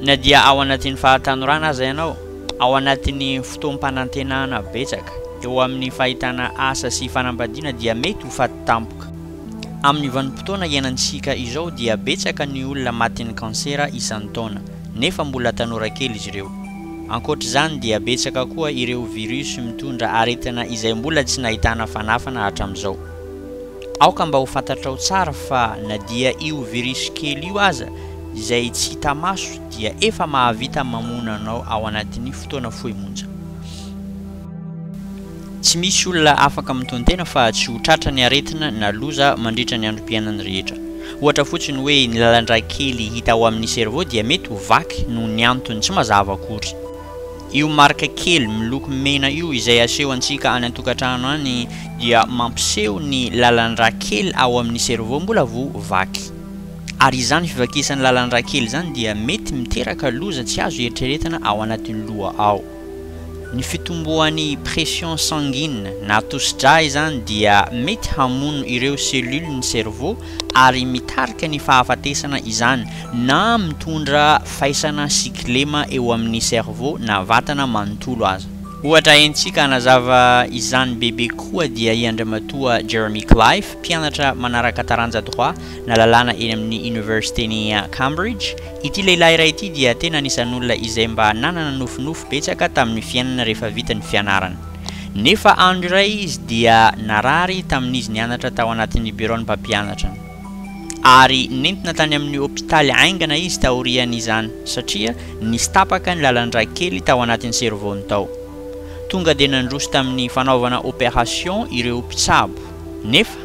na dia ao anatin'ny fahatanorana aza ianao, ao anatin'ny fotoam-panantenana betsaka, eo amin'ny fahitana asa sy fanambadiana dia mety ho faty tampoka. Amin'ny vanim-potoana iainantsika izao dia betsaka ny olona matin'ny kansera isan-taona, nefa mbola tanora kely izy ireo. Ankoatr'izany dia betsaka koa ireo virus mitondra aretina izay mbola tsy nahitana fanafana hatramin'izao. Aoka mba ho fantatrao tsara fa na dia io virus kely io aza izay tsy hita maso dia efa mahavita mamono anao ao anatin'ny fotoana fohy monja. Tsy misy olona afaka mitontena fa tsy ho tratra ny aretina na loza mandritra ny androm-piainany rehetra. Ohatra fotsiny hoe ny lalan-drà kely hita ao amin'ny cerveau dia mety ho vaky noho ny antony tsy mazava akory. Io marika kely miloko mena io izay asehontsika any an-tokantrano any dia mampiseho ny lalan-drà kely ao amin'ny cerveau mbola vao vaky. Ary izany fivakisan'ny lalan-drà kely izany dia mety miteraka loza tsy azo eritreretina ao anatin'ny loha ao. Ny fitomboan'ny pression sanguine na tosi-drà izany dia mety hamono ireo cellules ny cerveau ary mitarika ny fahafatesana izany na mitondra faisana sy kilema eo amin'ny cerveau na vatana manontolo aza. Ohatra entintsika hanazava izany bebe kokoa dia i Andriamatoa Jeremy Clive, mpianatra manaraka taranja droit na lalàna eny amin'ny Oniversiten'i Cambridge, Ity lehilahy iray ity dia tena anisan'olona izay mba nanana nofinofy betsaka tamin'ny fiainana rehefa vita ny fianarana. Nefa andro iray izy dia narary tamin'izy nianatra tao anatin'ny biraon'ny mpampianatra. Ary nentina tany amin'ny hopitaly haingana izy taorian'izany satria nisy tapaka ny lalan-drà kely tao anatin'ny cerveau-ny tao. Tonga dia nandroso tamin'ny fanaovana opération ireo mpitsabo. Nefa.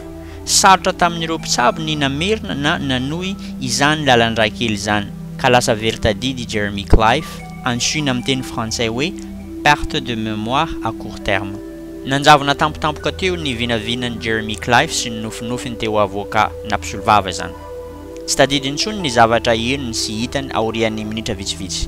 Sarotra tamin'ireo mpitsabo ny namerina na nanohy izany lalandrà kely izany, ka lasa very tadidy i Jeremy Cliffe, antsoina amin'ny teny frantsay hoe perte de mémoire à court terme. Nanjavona tampotampoka teo ny vinavinan'i Jeremy Cliffe sy ny nofinofiny teo avoka na mpisolovava izany. Tsy tadidy intsony ny zavatra henony sy hitany aorian'ny minitra vitsivitsy.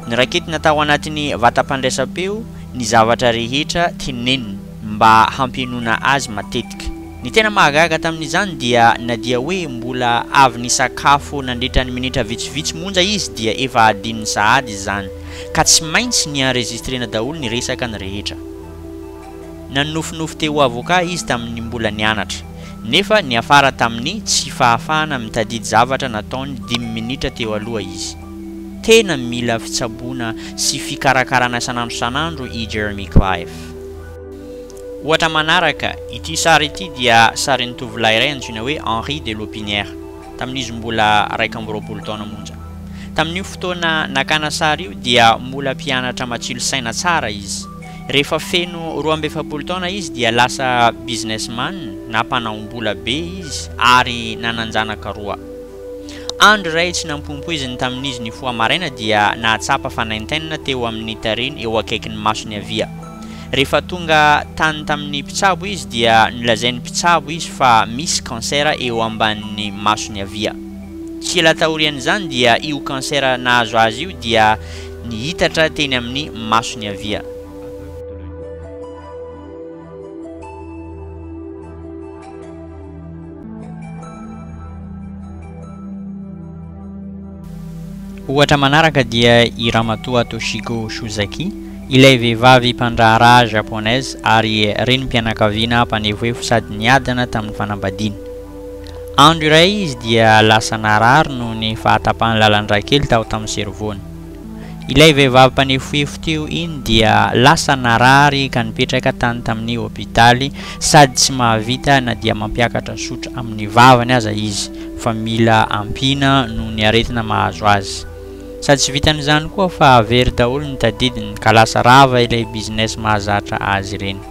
Noraketina tao anatin'ny vatam-pandraisam-peo ny zavatra rehetra teneniny. mba hampihenoana azy matetika. Ny tena mahagaga tamin'izany dia na dia hoe mbola avy nisakafo nandritra ny minitra vitsivitsy monja izy dia efa adinony sahady izany ka tsy maintsy ni-enregistrena daholo ny resakany rehetra. Nanonofinofy te ho avocat izy tamin'ny mbola nianatra, nefa niafara tamin'ny tsy fahafahana mitadidy zavatra nataony dimy minitra teo aloha izy. Tena mila fitsaboana sy fikarakarana isan'andro isan'andro i Jeremy Clive. Ohatra manaraka, ity sary ity dia sarin'ny tovolahy iray antsoina hoe Henri de Lopinière, tamin'izy mbola raika amby roapolo taona monja. Tamin'io fotoana nakana sary io dia mola mpianatra matsilo saina tsara izy. Rehefa feno roa amby efapolo taona izy dia lasa businessman na mpanaom-bola be izy ary nanan-janaka roa. Andro iray tsy nampoimpoiziny tamin'izy nifoha maraina dia nahatsapa fanaintainana teo amin'ny tariny eo akaikin'ny masony havia. Rehefa tonga tany tamin'ny mpitsabo izy dia nolazain'ny mpitsabo izy fa misy cancer eo ambanin'ny masony havia. Tsy ela taorian'izany dia io cancer nahazo azy io dia niitatra teny amin'ny masony havia. Ohatra manaraka dia i Ramatoa Toshiko Shuzaki, ilay vehivavy mpandraharaha Japonaise ary renim-pianakaviana mpanefoefo sady niadana tamin'ny fanambadiana. Andro iray izy dia lasa narary noho ny fahatapahan'ny lalan-dra kely tao tamin'ny servony. Ilay vehivavy mpanefohefo teo iny dia lasa narary ka nipetraka tany tamin'ny hopitaly. Sady tsy mahavita na dia mampiakatra zotra amin'ny vavany aza izy fa mila ampiana noho ny aretina mahazo azy. Sady tsy vitan'izany koa fa very daholo ny tadidiny ka lasa rava ilay business mahazatra azy ireny.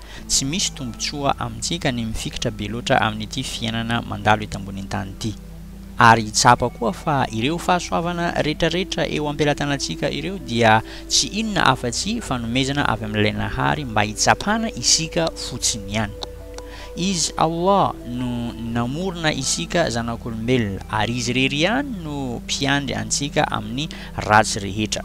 Tsy misy tombontsoa amintsika ny mifikitra be loatra amin'ity fiainana mandalo eto ambonin'ny tany ity. Ary tsapa koa fa ireo fahasoavana rehetrarehetra eo am-pelatanantsika ireo dia tsy inona afa-tsy fanomezana avy amin'Ilay Nahary mba hitsapana isika fotsiny ihany. Izy Allah no namorona isika zanak'olombelona ary Izy irery ihany no mpiandry antsika amin'ny ratsy rehetra.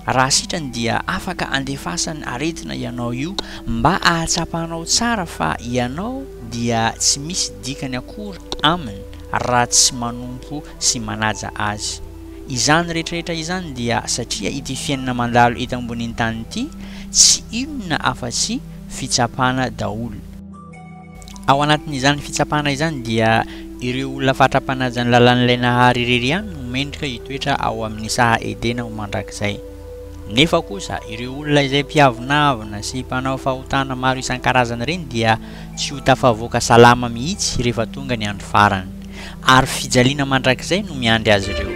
Raha sitrany dia afaka andefasan'ny aretina ianao io mba ahatsapanao tsara fa ianao dia tsy misy dikany akory aminy raha tsy manompo sy manaja azy. Izany rehetrarehetra izany dia satria ity fiainana mandalo eto ambonin'ny tany ity tsy inona afa-tsy fitsapana daholo. Ao anatin'izany fitsapana izany dia ireo olona fatra-panaja ny lalàn'ilay Nahary irery ihany no mendrika hitoetra ao amin'ny saha Edena ho mandrakizay. Nefa kosa ireo olona izay mpiavonavona sy mpanao fahotana maro isan-karazany ireny dia tsy ho tafavoaka salama mihitsy rehefa tonga ny andro farany. Ary fijaliana mandrakizay no miandry azy ireo.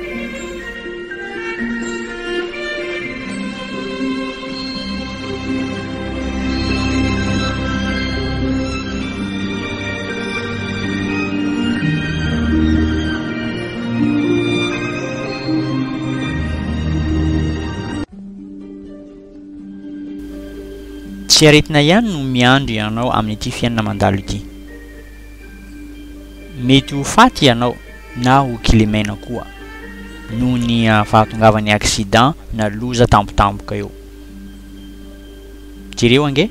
Tsy aretina ihany no miandry anao amin'ity fiainana mandalo ity. Mety ho faty ianao na ho kilemena koa noho ny fahatongavan'ny accident na loza tampotampoka eo. Jereo ange.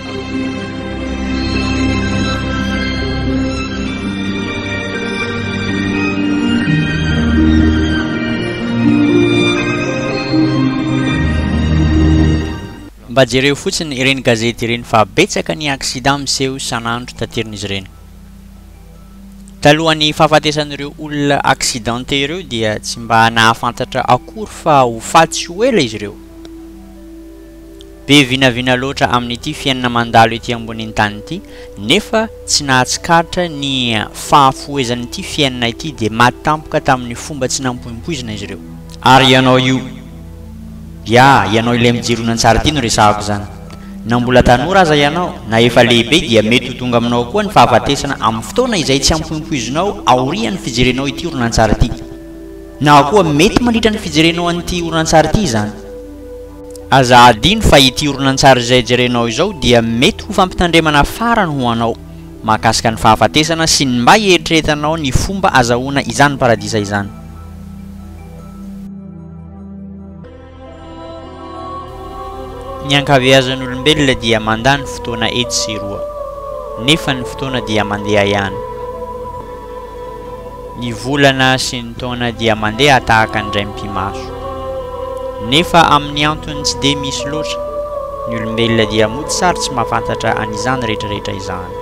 Mba jereo fotsiny ireny gazety ireny fa betsaka ny accident miseho isan'andro taterin'izy ireny. Talohan'ny fahafatesan'ireo olona accidenté ireo dia tsy mba nahafantatra akory fa ho faty sy ho ela izy ireo. Be vinavina loatra amin'ity fiainana mandalo ety ambonin'ny tany ity, nefa tsy nahatsikaritra ny fahafohezan'ity fiainana ity, dia maty tampoka tamin'ny fomba tsy nampoimpoizina izy ireo. Ary ianao io, ya, ianao ilay mijiro horonantsary ity no resahako izany. Na mbola tanora aza ianao, na efa lehibe, dia mety ho tonga aminao koa ny fahafatesana amin'ny fotoana izay tsy ampoimpoizinao aorian'ny fijerenao ity horonantsary ity. Na koa mety mandritra ny fijerenao an'ity horonantsary ity izany. Aza hadino fa ity horonantsary izay jerenao izao dia mety ho fampitandremana farany ho anao mahakasika ny fahafatesana sy ny mba hieritreretanao ny fomba azahoana izany paradisa izany. Ny ankabeazan'olombelona dia mandany fotoana etsy sy eroa, nefa ny fotoana dia mandeha ihany. Ny volana sy ny taona dia mandeha tahaka ny raim-pimaso. Nefa amin'ny antony tsy dia misy loatra, ny olombelona dia mody sary tsy mahafantatra an'izany rehetrarehetra izany.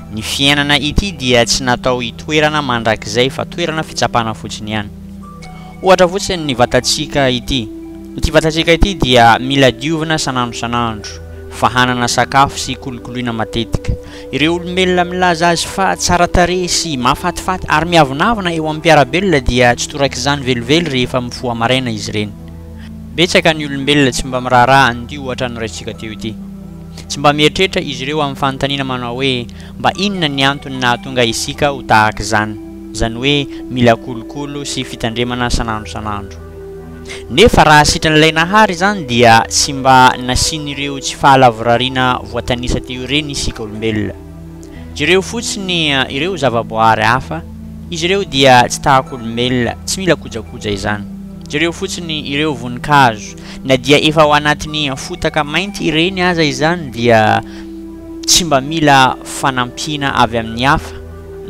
Ny fiainana ity dia tsy natao hitoerana mandrakizay fa toerana fitsapana fotsiny ihany. Ohatra fotsiny ny vatantsika ity. Ity vatantsika ity dia mila diovina san'andro san'andro, fahanana sakafo sy kolokoloina matetika. Ireo olombelona milaza azy fa tsara tarehy sy mahafatifaty ary miavonavona eo amin'ny mpiara-belona dia tsy torak'izany velively rehefa mifoha maraina izy ireny. Betsaka ny olombelona tsy mba miraharaha an'ity ohatra noraisintsika teo ity. Tsy mba mieritreritra izy ireo amin'ny fanontaniana manao hoe, Mba inona ny antony nahatonga isika ho tahaka izany? izany hoe mila kolokolo sy fitandremana san'andro san'andro. Nefa raha sitran'ilay Nahary izany dia tsy mba nasian'ireo tsy fahalavorariana voatanisa teo ireny isika olombelona. Jereo fotsiny ireo zavaboahary hafa, izy ireo dia tsy tahaka olombelona, tsy mila kojakoja izany. Jereo fotsiny ireo voninkazo, na dia efa ao anatin'ny fotaka mainty ireny aza izany dia tsy mba mila fanampiana avy amin'ny hafa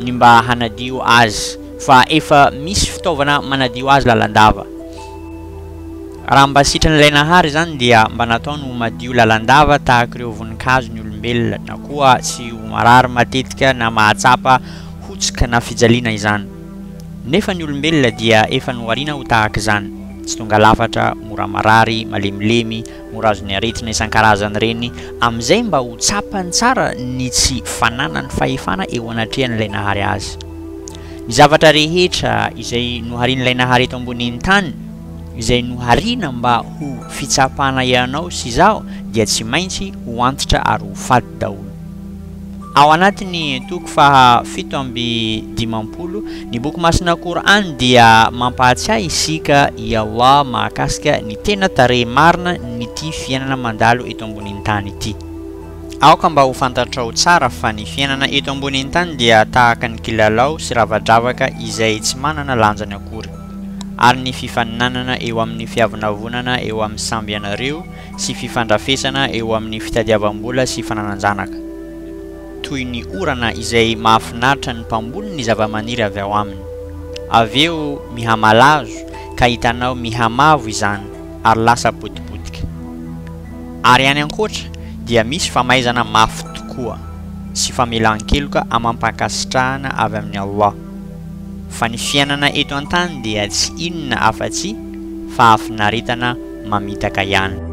ny mba hanadio azy fa efa misy fitaovana manadio azy lalandava. Raha mba sitran'ilay Nahary izany dia mba nataony ho madio lalandava tahaka ireo voninkazo ny olombelona, na koa tsy ho marary matetika na mahatsapa hotsika na fijaliana izany. Nefa ny olombelona dia efa nohariana ho tahaka izany, tsy tonga lafatra, mora marary, malemilemy, mora azon'ny aretina isan-karazany ireny, amin'izay mba ho tsapany tsara ny tsy fananany fahefana eo anatrehan'ilay Nahary azy. Ny zavatra rehetra izay noharian'ilay Nahary eto ambonin'ny tany, izay nohariana mba ho fitsapana ianao sy izaho dia tsy maintsy ho antitra ary ho faty daholo. Ao anatin'ny toko faha fito amby dimampolo, ny Boky Masina Qur'an dia mampahatsiahy isika i Allah mahakasika ny tena tarehy marina n'ity fiainana mandalo eto ambonin'ny tany ity. Aoka mba ho fantatrao tsara fa ny fiainana eto ambonin'ny tany dia tahaka ny kilalao sy rava-dravaka izay tsy manana lanjany akory. ary ny fifaninanana eo amin'ny fiavonavonana eo amin'ny samby ianareo sy fifandrafesana eo amin'ny fitadiavam-bola sy fananan-janaka. Toy ny orana izay mahafinaritra ny mpamboly ny zavamaniry avy ao aminy. Avy eo mihamalazo ka hitanao mihamavo izany ary lasa potipotika. Ary any ankoatra dia misy famaizana mafy tokoa sy famelan-keloka amam-pankasitrahana avy amin'i Allah. Fa ny fiainana eto an-tany dia tsy inona afa-tsy fahafinaretana mamitaka ihany.